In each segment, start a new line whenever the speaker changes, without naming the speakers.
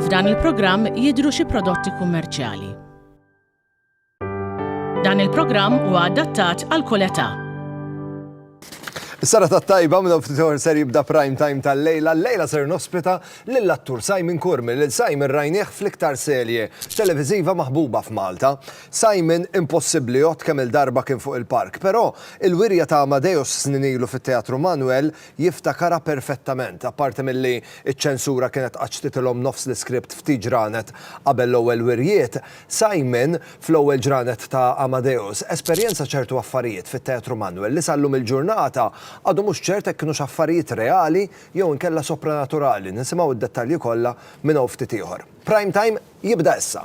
F'dan il-programm jidhru xi prodotti kummerċjali. Dan il-programm huwa adattat għal kull età.
Is-sara ta' tajba minn ftit ser jibda prime time tal-lejla. Lejla ser nospita lill-attur Simon Kurmi, lil Simon rajnieh fl-iktar serje televiżiva maħbuba f'Malta. Simon, Impossibbli, għodt kemm-il darba kien fuq il-park. Però, il-wirja ta' Amadeus snin ilu fit-Teatru Manuel jiftakarha perfettament, apparti milli ċ-ċensura kienet qatt xtitilhom nofs l-iskript ftit ġranet qabel l-ewwel wirjiet. Simon, Fl-ewwel ġranet ta' Amadeus, esperjenza ċertu affarijiet fit-Teatru Manuel li sal-lum il-ġurnata għadu mhux ċert hekk kinux affarijiet reali jew inkella sopranaturali. Nisimgħu d-dettalji kollha minn hawn ftit ieħor. Prime Time jibda issa.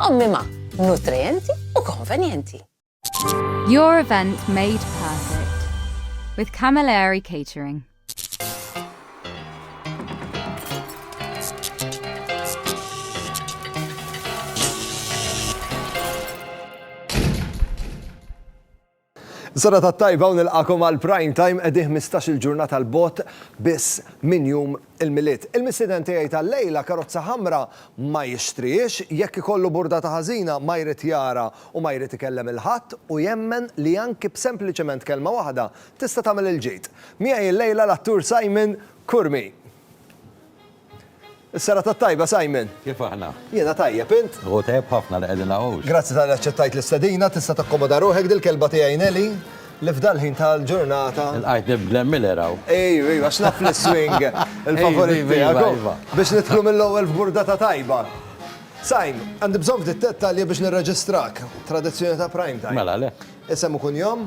Ommima, nutrienti u konvenjenti.
Your event made perfect with Camilleri Catering.
Sodata t-tajba u nilqagħkom għal Prime Time qegħdin ħmistax il-ġurnata 'l bogħod biss minn jum il-Milied. Il-mistieden tiegħi tal-lejla karozza ħamra ma jixtrihiex, jekk ikollu burdata ħażina ma jrid jara u ma jrid ikellem 'il ħadd u jemmen li anki b'sempliċement kelma waħda tista' tagħmel il-ġid. Miegħi l-lejla l-attur Simon Curmi. Is-serata t-tajba, Simon. Kif aħna? Jiena
tajjeb, int?
Hu tajjeb ħafna li qegħdin
hawn. Grazzi tal-li aċċettajt
l-istedina, tista' takkomoda ruħek dil-kelba tiegħi Nelly, li f'dal-ħin tal-ġurnata. Ilqajtni b'Glenn
Miller hawn. Ejw, ejw, għax naf
li s-swing il-favorit tiegħek, u biex nidħlu mill-ewwel f'burdata tajba. Simon, għandi bżonn ftit dettalji biex nirreġistrak, tradizzjoni ta' Prime Time. Mela le. Isem u
kunjom?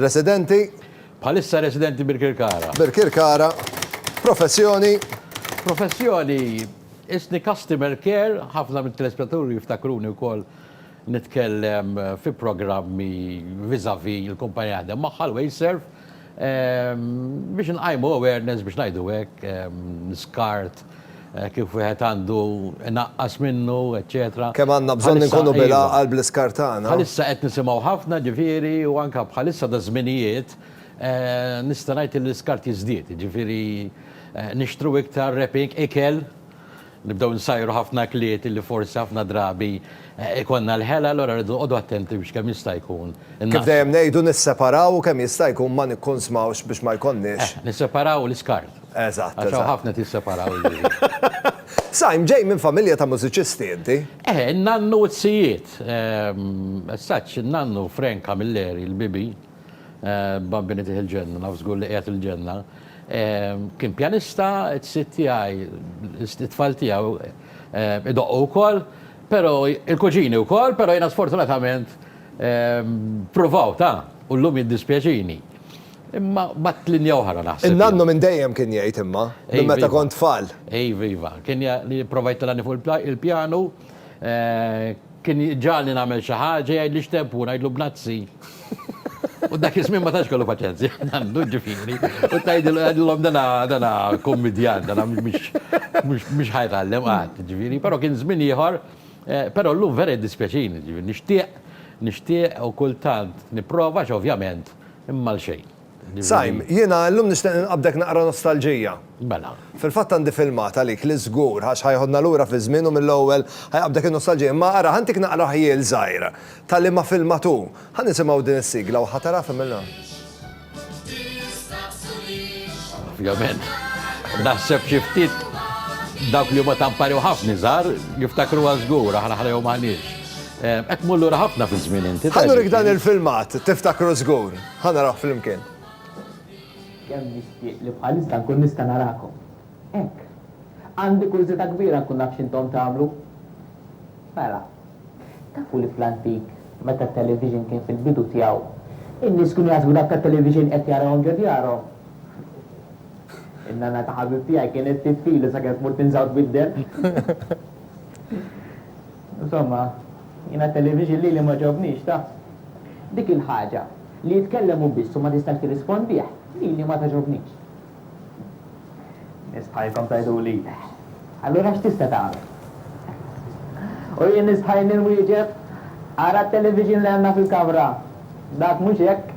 Residenti. Bħalissa
residenti Birkirkara. Birkirkara.
Professjoni.
Professjoni, Isni Customer Care, ħafna mit-telespettaturi jiftakruni wkoll nitkellem fi programmi vis-à-vis il-kumpanija li naħdem magħha, l-Waveserve, Biex inqajmu awareness biex ngħidu hekk, l-iskart kif wieħed għandu inaqqas minnu, eċċetera. Kemm għandna bżonn inkunu
bil-għaqal bl-iskart tagħna. Bħalissa qed nisimgħu
ħafna, ġifieri, u anke bħalissa daż-żminijiet nista' ngħid li l-iskart jiżdied, jiġifieri nixtru iktar wrapping, ikel, Nibdew insajru ħafna kliet li forsi ħafna drabi jkollna l-ħela, allura rridu noqogħdu attenti biex kemm jista' jkun innaqqsu. Kif dejjem ngħidu
nisseparaw u kemm jista' jkun ma nikkunsmawx biex ma jkollniex. Eh, nisseparaw l-iskart.
Eżatt. Għax hawn ħafna
qed jisseparaw
il-ħin.
Saim, ġej minn familja ta' mużiċisti inti? Eh, in-nannu u
t-sijiet. As such, in-nannu Frank Camilleri, il-bibi, Bambini tih il-ġenna, naf żgur li qiegħed il-ġenna, Kien pjanista, it-sid tiegħi, it-tfal tiegħu idoqqu wkoll, però il-kuġini wkoll, però jiena sfortunatament ppruvawt, ha, u llum jiddispjaċini. Imma b'għadd linja oħra naħseb. In-nannu minn dejjem kien
jgħid imma, minn meta kont tfal. Iva, iva. Kien
li pprova jitellgħani fuq il-pjanu. Kien jġagħalni nagħmel xi ħaġa, jgħidli x'temp hu, ngħidlu bnazzi. U dak iż-żmien ma tantx kellu paċenzja, għandu, ġifieri, u tgħidilhom tgħidilhom dana dana kummidjant, dana mhux mhux mhux ħa jtgħallem qatt, ġifieri, però kien żmien ieħor, però llum vera jiddispjaċini, ġifieri nixtieq nixtieq u kultant nipprova għax ovvjament imma għal xejn. Sajm, jiena
illum nixtieq inqabbdek naqra nostalġija. Mela. Fil-fatt
għandi filmat
għalik li żgur ħa x'ħajħodna lura fiż-żmien u mill-ewwel ħajqabbdek in-nostalġija. Imma ara, ħa ntik naqra ħjiel żgħir ta' liema filmat hu. Ħa nisimgħu din is-sigla u ħa tara f'imilna.
Ovvjament. Naħseb xi ftit dawk li huma ta' mpari u ħafna iżgħar jiftakruha żgur, aħna ħlejhom m'aħniex. Qed tmur lura ħafna fiż-żmien inti. Ħa nurik dan il-filmat,
tiftakru żgur. Ħa narawh flimkien.
Kemm nixtieq li bħalissa nkun nista' narakom. Hekk. Għandi kurżità kbira nkun naf x'intom tagħmlu. Mela, tafu li fl-antik, meta t-television kien fil-bidu tiegħu, in-nies kienu jaħsbu dak tat-television qed jarawhom ġo djarhom? In-nanna ta' ħabib tiegħi kienet tiffilu sakemm tmur tinżgħu tbiddel. Insomma, jien għat-television lili ma ġobnix, taf. Dik il-ħaġa li jitkellem hu biss u ma tistax tirrispondih, lili ma togħġobnix. Nies bħajrkom tgħiduli, Allura x'tista' tagħmel? U jien nistħajjni nwieġeb, Ara t-television li għandna fil-kamra, dak mhux hekk.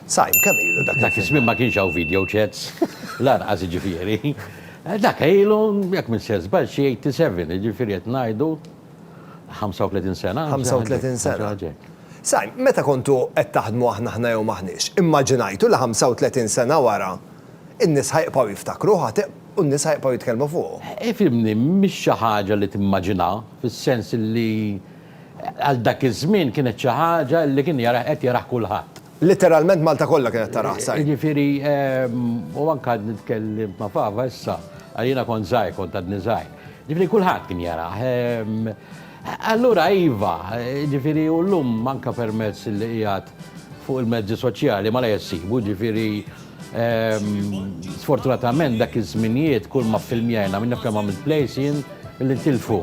Sa, kemm ilu dak iż-żmien? Dak iż-żmien ma kienx hawn video
chats, lanqas jiġifieri. Dak ilu, jekk m'intx se żball, xi 87, jiġifieri qed ngħidu 35 sena. 35 sena.
Sajn, meta kontu qed taħdmu aħna ħna jew m'aħniex, immaġinajtu li 35 sena wara, in-nies ħa jibqgħu jiftakruh għad u n-nies ħa jibqgħu jitkellmu fuqu? Ifhimni, mhix
xi ħaġa li timmaġina, fis-sens li għal dak iż-żmien kienet xi ħaġa li kien jarah qed jarah kulħadd. Litteralment Malta
kollha kienet tara ħsar. Jiġifieri
u anke għad nitkellem ma' Fava issa, għal jiena kont żgħir, kont għadni żgħir. Jiġifieri kulħadd kien jarah. Allura iva, jiġifieri u llum anke permezz li qiegħed fuq il-mezzi soċjali malajr issibu, jiġifieri sfortunatament dak iż-żminijiet kull ma ffilmjajna, min jaf kemm għamilt plays jien li ntilfu.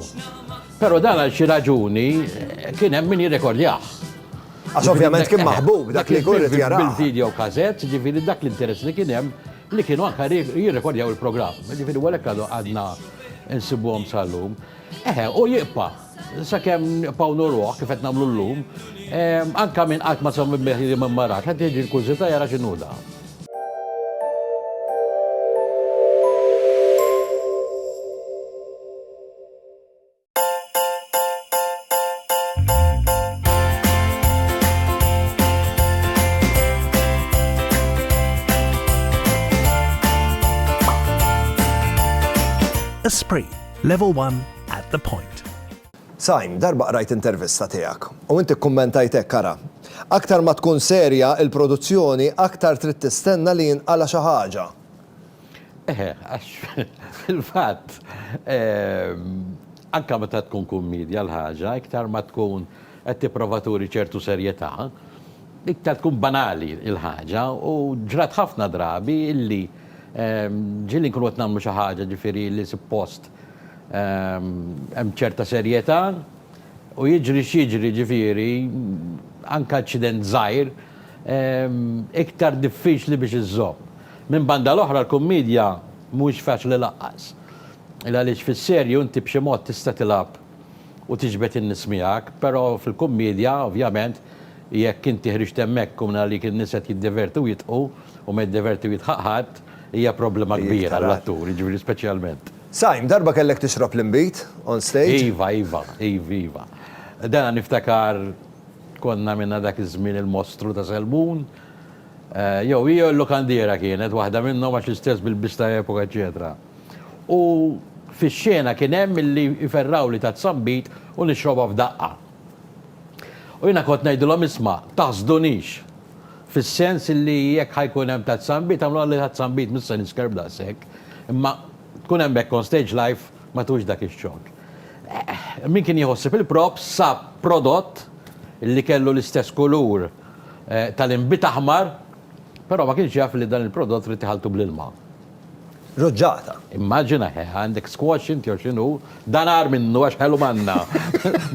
Però dan għal xi raġuni kien hemm min jirrekordjah. Għax
ovvjament kien maħbub dak li jkun irid jarah. Bil-video cassette,
ġifieri dak l-interess li kien hemm li kienu anke jirrekordjaw il-programm. Ġifieri u għalhekk għadna nsibuhom sal-lum. Eħe, u jibqa' sakemm nibqgħu nuruh kif qed nagħmlu llum, anke min qatt ma semmi bih li ma rax, qed jiġi l-kurżità jara x'inhu dan.
Esprit, level 1 at the point. Sajm,
darba qrajt intervista tiegħek u inti kkummentajtek kara. Aktar ma tkun serja il-produzzjoni, aktar trid tistenna li jinqala xi ħaġa. Eħe,
għax fil-fatt anke meta tkun kummedja l-ħaġa, iktar ma tkun qed tipprova turi ċertu serjetà, iktar tkun banali l-ħaġa u ġrat ħafna drabi illi ġieli nkunu qed nagħmlu xi ħaġa ġifieri li suppost hemm ċerta serjetà u jiġri x'jiġri ġifieri anke aċċident żgħir iktar diffiċli biex iżżomm. Minn banda l-oħra l-kummidja mhuwiex faċli laqqas. Il għaliex fis-serju inti b'xi mod tista' tilgħab u tiġbed in-nies miegħek, però fil-kummidja ovvjament jekk inti ħriġt hemmhekk u minn għalik in-nies qed jiddivertu u jidħqu u ma jiddiverti u jidħaq ħadd, hija problema kbira għall-attur, jiġifieri speċjalment. Sajm, darba kellek
tixrob l-inbid on stage? Iva, iva, iva, iva.
Dana niftakar konna għamilna dak iż-żmien il-Mostru ta' Selbun, Jew hi jew il-lukandiera kienet waħda minnhom għax l-istess bilbies ta' epoka eċċetera. U fix-xena kien hemm milli jferrawli taz-zambit u nixrobha f'daqqa. U jiena kont ngħidilhom isma', taħsdunix! Fis-sens li jekk ħa jkun hemm taz-zambit għamluha li taz-zambit mhux se niskerb daqshekk. Imma tkun hemmhekk on stage live ma tux dak ix-xokk. Min kien jieħu ħsieb il-props sab prodott li kellu l-istess kulur. tal-inbid aħmar, però ma kienx jaf li dan il-prodott trid tiħalltu bl-ilma. Ruġġata.
Immaġina,
he, għandek squash inti jew x'inhu, dan agħar minnu għax ħelu manna.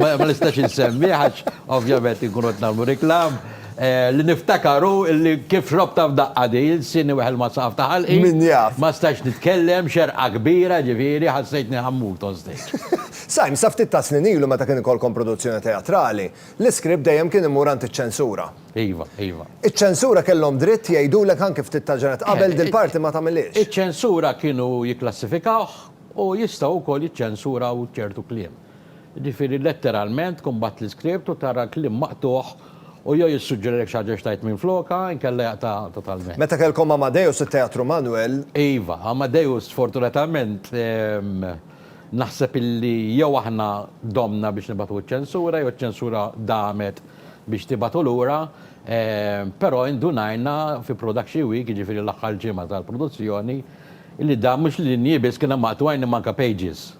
Ma nistax insemmih għax ovvjament inkunu qed nagħmlu reklam. Li niftakar hu li kif xrobtha f'daqqa din, ilsini weħel ma' saqaf ta' ħalqi. Min jaf. Ma stajtx
nitkellem,
xerqa kbira ġifieri, ħassejtni ħammut on stage. Sime, sa ftit
tas-snin ilu meta kien ikollkom produzzjoni teatrali, L-iskript dejjem kien imur għand iċ-ċensura. Iva, iva.
Iċ-ċensura
kellhom dritt jgħidulek anki ftit tal-ġranet qabel dil-parti ma tagħmilhiex. Iċ-ċensura kienu
jikklassifikawh u jistgħu wkoll jiċċensuraw ċertu kliem. Jiġifieri letteralment tkun bgħatt l-iskript u tara l-kliem maqtugħ u jew jissuġġerilek xi ħaġa x'tgħid minflokha inkella jaqta' totalment. Meta kellkom Amadeus
it-Teatru Manwel.
Iva, Amadeus sfortunatament. Naħseb illi jew aħna domna biex nibagħtu ċ-ċensura jew ċ-ċensura damet biex tibagħtu lura, però indunajna fi Production Week, jiġifieri l-aħħar ġimgħa tal-produzzjoni, illi dam mhux linji biss kien hemm maqtugħin imma anke pages.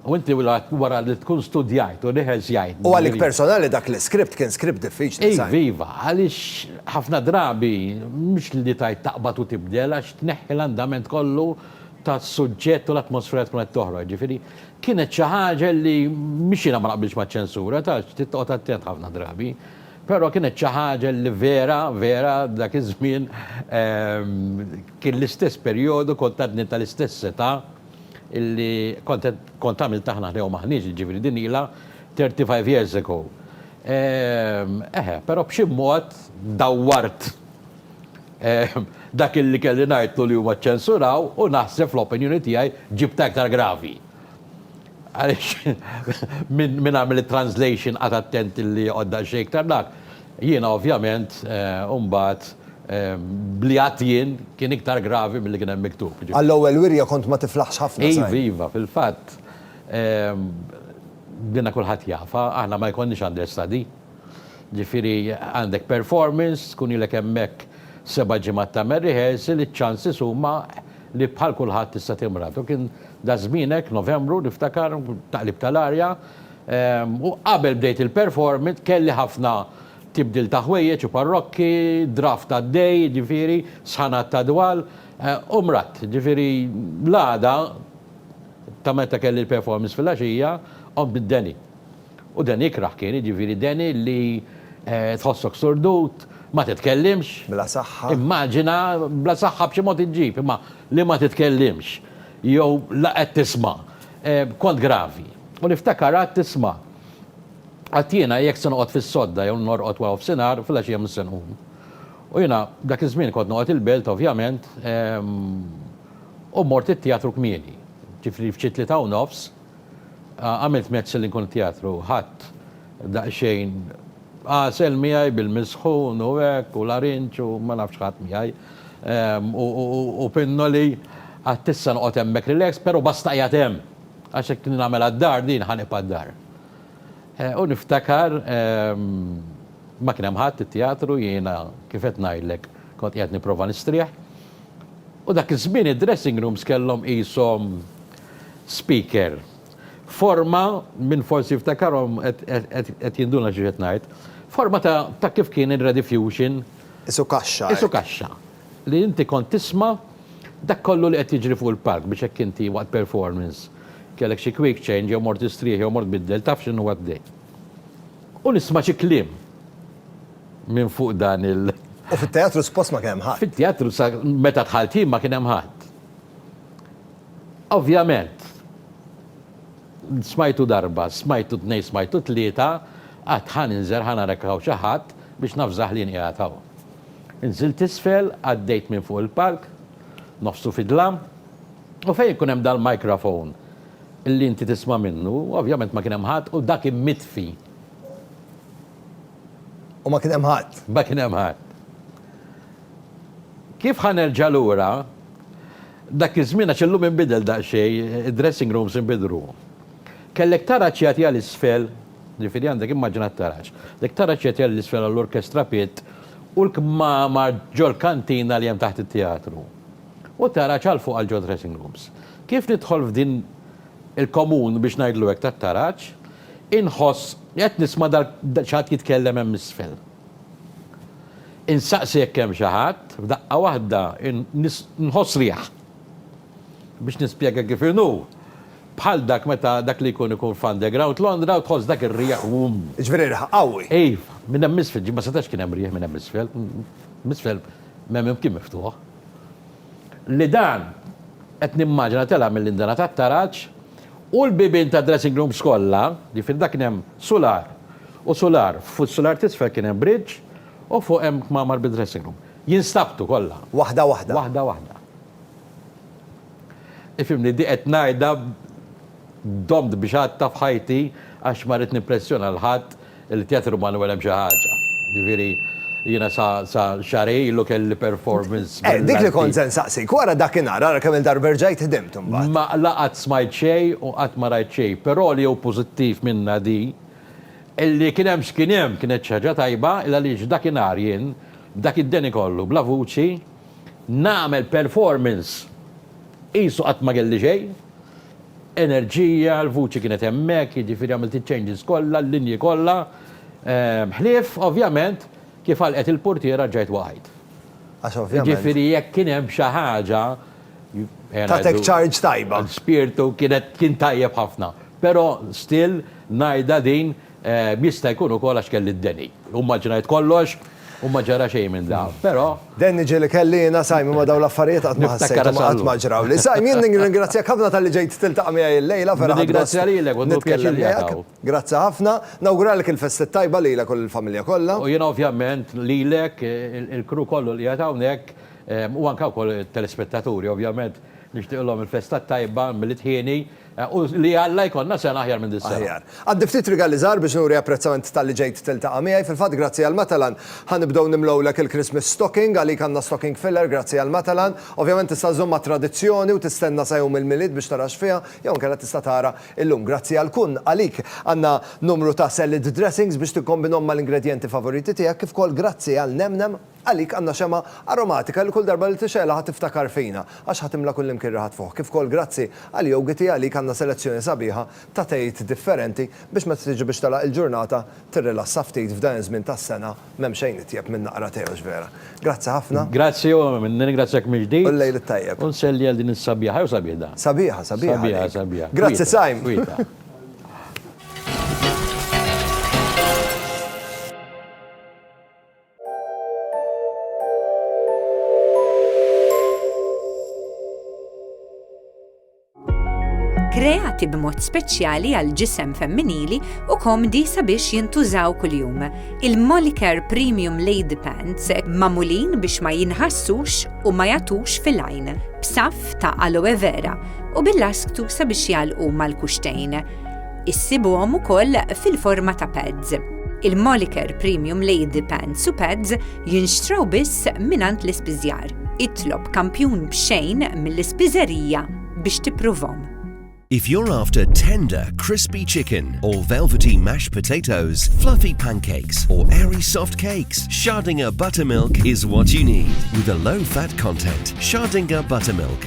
U inti wara li tkun studjajt u rehearsjajt. U għalik personali
dak l-iskript kien skript diffiċli. Iva, iva, għaliex
ħafna drabi mhux li tgħid taqbad u tibdel għax tneħħi l-andament kollu tas-suġġett u l-atmosfera tkun qed toħroġ. Jiġifieri kienet xi ħaġa li mhix jiena ma naqbilx maċ-ċensura, taf trid toqgħod attent ħafna drabi, però kienet xi ħaġa li vera, vera dak iż-żmien kien l-istess perjodu kont għadni tal-istess età li kont qed kont għamilt aħna ħdejhom aħniex, jiġifieri din ilha thirty five years ago. Eħe, però b'xi mod dawwart. Dak illi kelli ngħidlu li huma ċċensuraw u naħseb fl-opinjoni tiegħi ġibtha iktar gravi. Għaliex min għamel it-translation qagħad attent illi joqgħod daqsxejn iktar dak. Jiena ovvjament imbagħad b'li għadt jien kien iktar gravi milli kien hemm miktub. Għall-ewwel wirja kont
ma tiflaħx ħafna żgħir. Iva, iva, fil-fatt
dina kulħadd jafha, aħna ma jkollniex understudy. Ġifieri għandek performance, tkun ilek hemmhekk seba' ġimgħat tagħmel rehearsal, iċ-chances huma li bħal kulħadd tista' timrad. U kien dak żmien hekk, Novembru niftakar, taqlib tal-arja, u qabel bdejt il-performance kelli ħafna tibdil ta' ħwejjeġ u parrokki, draft għaddej, jiġifieri, sħanat ta' dwal, u mradt. Ġifieri l-għada ta' meta kelli l-performance fil-għaxija, qomt bid-deni. U Danny ikrah kien, jiġifieri Danny li tħossok surdut, ma titkellimx. Bla saħħa.
Immaġina,
bla saħħa b'xi mod iġġib, imma li ma titkellimx jew la qed tisma'. Kont gravi. U niftakar qgħadt tisma'. Għad jiena jekk se noqgħod fis-sodda jew norqod wara nofsinhar, filgħaxija mhux se nqum. U jiena dak iż-żmien kont noqgħod il-Belt ovvjament u mmort it-teatru kmieni. Ġifieri f'xi tlieta u nofs. Għamilt mezzi li nkun teatru, ħadt daqsxejn għasel miegħi bil-misħun u hekk u larinġ u ma nafx x'ħadt miegħi u pinnoli għadt issa noqgħod hemmhekk relax però basta qiegħed hemm għax jekk nagħmilha d-dar din ħa nibqa' d-dar. U niftakar ma kien hemm ħadd it-teatru jiena kif qed ngħidlek kont qiegħed nipprova nistrieħ u dak iż-żmien id-dressing rooms kellhom qishom Speaker, Forma, min forsi jiftakarhom qed jinduna xi qed ngħid, forma ta' kif kien ir-Rediffusion. Qisu kaxxa
hekk. Qisu kaxxa.
Li inti kont tisma' dak kollu li qed jiġri fuq il-palk biex hekk inti waqt performance kellek xi quick change jew mort istrieħ jew mort biddel taf x'inhu għaddej. U nisma' xi kliem minn fuq dan il-. U fit-teatru suppost
ma kien hemm ħadd. Fit-teatru sa
meta dħalt jien ma kien hemm ħadd. Ovvjament, smajtu darba, smajtu tnejn, smajtu tlieta, qatt ħa ninżel, ħa nara jekk hawn xi ħadd biex navżah li jien qiegħed hawn. Inżilt isfel, għaddejt minn fuq il-palk, nofsu fidlam, u fejn ikun hemm dal-microphone li inti tisma' minnu, ovvjament ma kien hemm ħadd u dak kien mitfi.
U ma kien hemm ħadd. Ma kien hemm ħadd.
Kif ħa nerġa' lura? Dak iż-żmien, għax illum inbidel daqsxejn, id-dressing rooms inbidlu. Kellek taraġ jagħti għal isfel, jiġifieri għandek immaġina t-taraġ, kellek taraġ jagħti għal isfel għall-orkestra pit u l-kmamar ġol-kantina li hemm taħt it-teatru. U taraġ għal fuq għal ġod-dressing rooms. Kif nidħol f'din il-komun, biex ngħidlu hekk, tat-taraġ, inħoss li qed nisma' xi ħadd jitkellem hemm isfel. Insaqsi jekk hemm xi ħadd, f'daqqa waħda nħoss riħ. Biex nispjega kif inhu, bħal dak meta dak li jkun ikun f'Underground Londra u tħoss dak ir-riħ wumm. Jiġifieri riħ
qawwi. Iv, minn hemm m'isfel,
ġie ma setax kien hemm riħ minn hemm m'isfel, m'isfel m'hemm imkien miftuħ. li dan, qed nimmaġina tela' mill-indana tat-taraġ, u l-bibien tad-dressing rooms kollha, jiġifieri dak kien hemm sular u sular, fuq is-sular t'isfel kien hemm bridge u fuq hemm kmamar bid-dressing room, jinstabtu kollha. Waħda waħda. Waħda
waħda.
Ifhimni, di qed ngħidha. Domt b'xatta f'ħajti għax ma ridt nippressjona 'l ħadd, il-Teatru Manwel hemm xi ħaġa. Jiġifieri jiena sa sa xahrej ilu kelli performance brillanti. Eh, dik li kont se
nsaqsik, wara dakinhar, ara kemm-il darba erġajt ħdimt imbagħad. Ma la qatt smajt
xejn u qatt ma rajt xejn, però li hu pożittiv minnha di, li kien hemm x'kien hemm kienet xi ħaġa tajba, il-għaliex dakinhar jien, b'dak id-deni kollu, bla vuċi, Nagħmel performance qisu qatt ma kelli xejn. Enerġija, l-vuċi kienet hemmhekk, jiġifieri għamilt iċ-changes kollha, l-linji kollha. Ħlief, ovvjament, kif għalqet il-purtiera rġajt waqajt. Għax ovvjament.
Jiġifieri jekk kien hemm
xi ħaġa, ejja ngħidu.
Tatek charge tajba. L-ispirtu kien
tajjeb ħafna. Però still ngħidha din. Jista' jkun ukoll għax kelli d-deni. U mmaġinajt kollox u ma ġara xejn minn dan. Però. Deni ġieli kelli
jiena, Simon, ma dawn l-affarijiet qatt ma ħassejthom u qatt ma ġrawli. Simon, jien nirringrazzjak ħafna talli ġejt tiltaqa' miegħi illejla, vera ħadt gost
nitkellem miegħek.
Grazzi ħafna. Nawguralek il-Festa t-Tajba lilek u lill-familja kollha. U jiena ovvjament
lilek, il-crew kollu li qiegħed hawnhekk, u anke wkoll it-telespettaturi ovvjament nixtieqilhom il-Festa t-Tajba mill-It Hieni. U li Alla jkollna sena aħjar minn dis-sena. Aħjar. Għandi ftit rigali
żgħar biex nuri apprezzament talli ġejt tiltaqa' miegħi. Fil-fatt grazzi għal Matalan ħa nibdew nimlgħulek il-Christmas stocking. Għalik għandna stocking filler grazzi għal Matalan. Ovvjament tista' żżomm mat-tradizzjoni u tistenna sa jum il-Milied biex tara x'fiha, jew inkella tista' tara illum. Grazzi għal Kun, għalik għandna numru ta' salad dressings biex tikkombinhom mal-ingredjenti favoriti tiegħek, kif ukoll grazzi għal Nem Nem. Għalik għandna xemgħa aromatika li kull darba li tixegħelha ħa tiftakar fina, għax ħa timla kullimkien riħa tfuħ. Kif ukoll grazzi għal Yogiti għalik għandna selezzjoni sabiħa ta' tejt differenti biex meta tiġi biex tagħlaq il-ġurnata tirrilassa ftit f'dan iż-żmien tas-sena m'hemm xejn itjeb minn naqra tè hux vera. Grazzi ħafna. Grazzi u
nirringrazzjak mill-ġdid. U l-lejl it-tajjeb. U
nsellli għal din is-sabiħa,
jew sabiħ dan? Sabiħa, sabiħa għalik. Sabiħa, sabiħa.
Grazzi Saim. Kwieta.
kreati b'mod speċjali għal ġisem femminili u komdi sabiex jintużaw kuljum. Il-Molicare Premium Lady Pants mamulin biex ma jinħassux u ma jatux fil-għajn, b'saf ta' aloe vera u bil-lasktu sabiex jalqu mal-kuxtejn. Issibuhom ukoll fil-forma ta' pads. Il-Moliker Premium Lady Pants u Pads jinxtraw biss mingħand l-ispiżjar. Itlob kampjun b'xejn mill-ispiżerija biex tippruvhom. If you're
after tender, crispy chicken or velvety mashed potatoes, fluffy pancakes or airy soft cakes, Schardinger Buttermilk is what you need. With a low fat content, Schardinger Buttermilk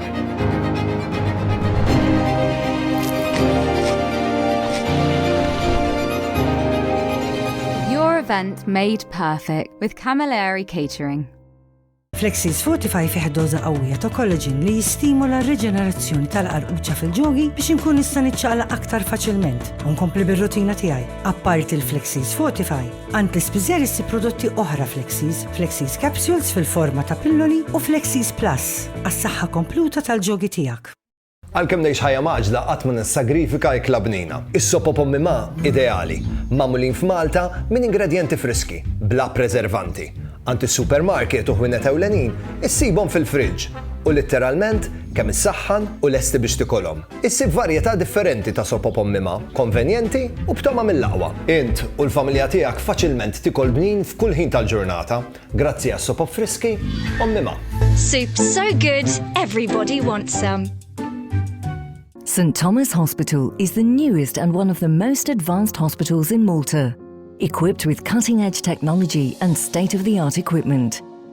Your event made perfect with Camilleri Catering. Flexis
Fortify fih doza qawwija ta' kollaġin li jistimula r-riġenerazzjoni tal-qarquċa fil-ġogi biex inkun nista' niċċaqla aktar faċilment u nkompli bir-rutina tiegħi. Apparti l-Flexis Fortify, Għand l-ispiżer issib prodotti oħra Flexies, Flexies Capsules fil-forma ta' pilloli u Flexies Plus għas-saħħa kompluta tal-ġogi tiegħek. Għalkemm ngħix
ħajja mgħaġġla qatt ma nissagrifika ikla bnina. Is-sop u pommi ma' ideali, magħmulin f'Malta minn ingredjenti friski, bla preservanti. Għand is-supermarket u ħwienet ewlenin issibhom fil-fridge u litteralment kemm issaħħan u lesti biex tikolhom. Issib varjetà differenti ta' soppa b'ommima, konvenjenti u b'togħma mill-aqwa. Int u l-familja tiegħek faċilment tikol bnin f'kull ħin tal-ġurnata grazzi għas-sopop friski ommima. Soup so
good, everybody wants some.
St Thomas Hospital is the newest and one of the most advanced hospitals in Malta, equipped with cutting-edge technology and state-of-the-art equipment.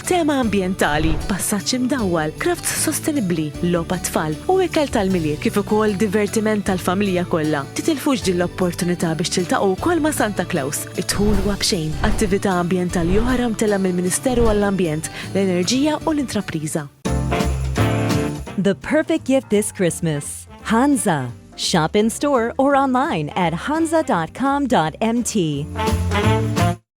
Tema ambjentali, passaġġ imdawwal, crafts sostenibbli, logħob għat-tfal, u ikel tal-Milied kif ukoll divertiment tal-familja kollha. Titilfux din l-opportunità biex tiltaqgħu wkoll ma' Santa Claus. Id-dħul huwa b'xejn. Attività ambjentali oħra mtellgħa mill-Ministeru għall-Ambjent, l-Enerġija u l-Intrapriża.
The perfect gift this Christmas, Hansa! Shop in store or online at hansa.com.mt.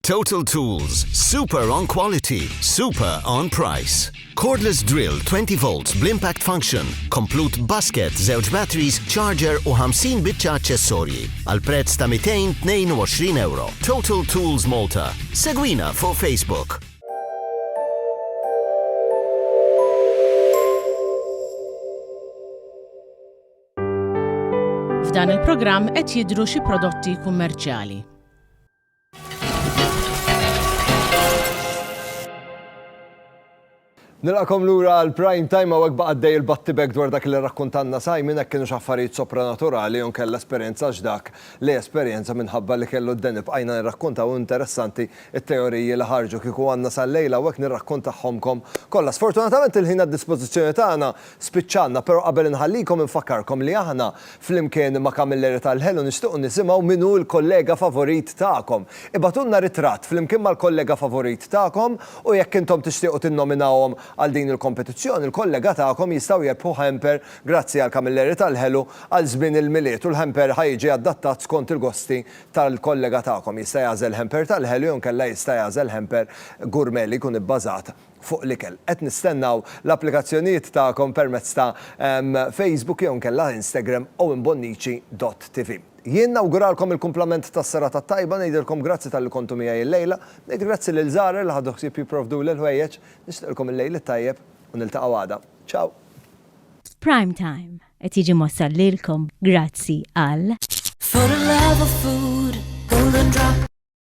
Total Tools, super on quality, super on price. Cordless drill 20 volts bl-impact function, komplut basket, żewġ batteries, charger u 50 biċċa aċċessorji għal prezz ta' 222 euro. Total Tools Malta. Segwina fuq Facebook.
F'dan il-programm qed jidru xi prodotti kummerċjali.
Nilqakom lura għal prime time għawek baqaddej il-battibek dwar dak li rakkontanna Simon hekk kienu xaffarijiet sopranaturali jew kella esperjenza ġdak li esperjenza minħabba li kellu d-deni bqajna nirrakkontaw interessanti it-teoriji li ħarġu kieku għandna sal-lejl hawnhekk nirrakkontahomkom kollha. Sfortunatament il-ħin għad-dispożizzjoni tagħna Spiċċanna, però qabel inħallikom infakkarkom li aħna flimkien ma' Camilleri tal-Ħelu nixtiequ nisimgħu min hu l-kollega favorit tagħkom. Ibgħatulna ritratt flimkien mal-kollega favorit tagħkom u jekk intom tixtiequ tinnominawhom għal din il-kompetizzjoni l-kollega tagħkom jistgħu jerbħu hamper grazzi għal Camilleri tal-Ħelu għal żmien il-Milied u l-hamper ħa jiġi adattat skont il-gosti tal-kollega tagħkom. Jista' jagħżel hamper tal-Ħelu jew inkella jista' jagħżel hamper gourmet li jkun ibbażat fuq l-ikel. Qed nistennaw l-applikazzjonijiet tagħkom permezz ta' Facebook jew inkella Instagram owenbonnici dott TV. Jien nawguralkom il-kumplament tas-serata t-tajba, ngħidilkom grazzi talli kontu miegħi l-lejla, ngħid grazzi lil Zahra li ħadu ħsieb jipprovduli l-ħwejjeġ, nixtieqilkom il-lejl it-tajjeb u niltaqgħu għada. Ciao!
Prime Time qed jiġi mwassal lilkom grazzi għal.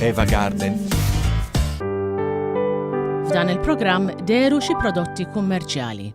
Eva Garden.
F'dan il-programm deru xi prodotti kummerċjali.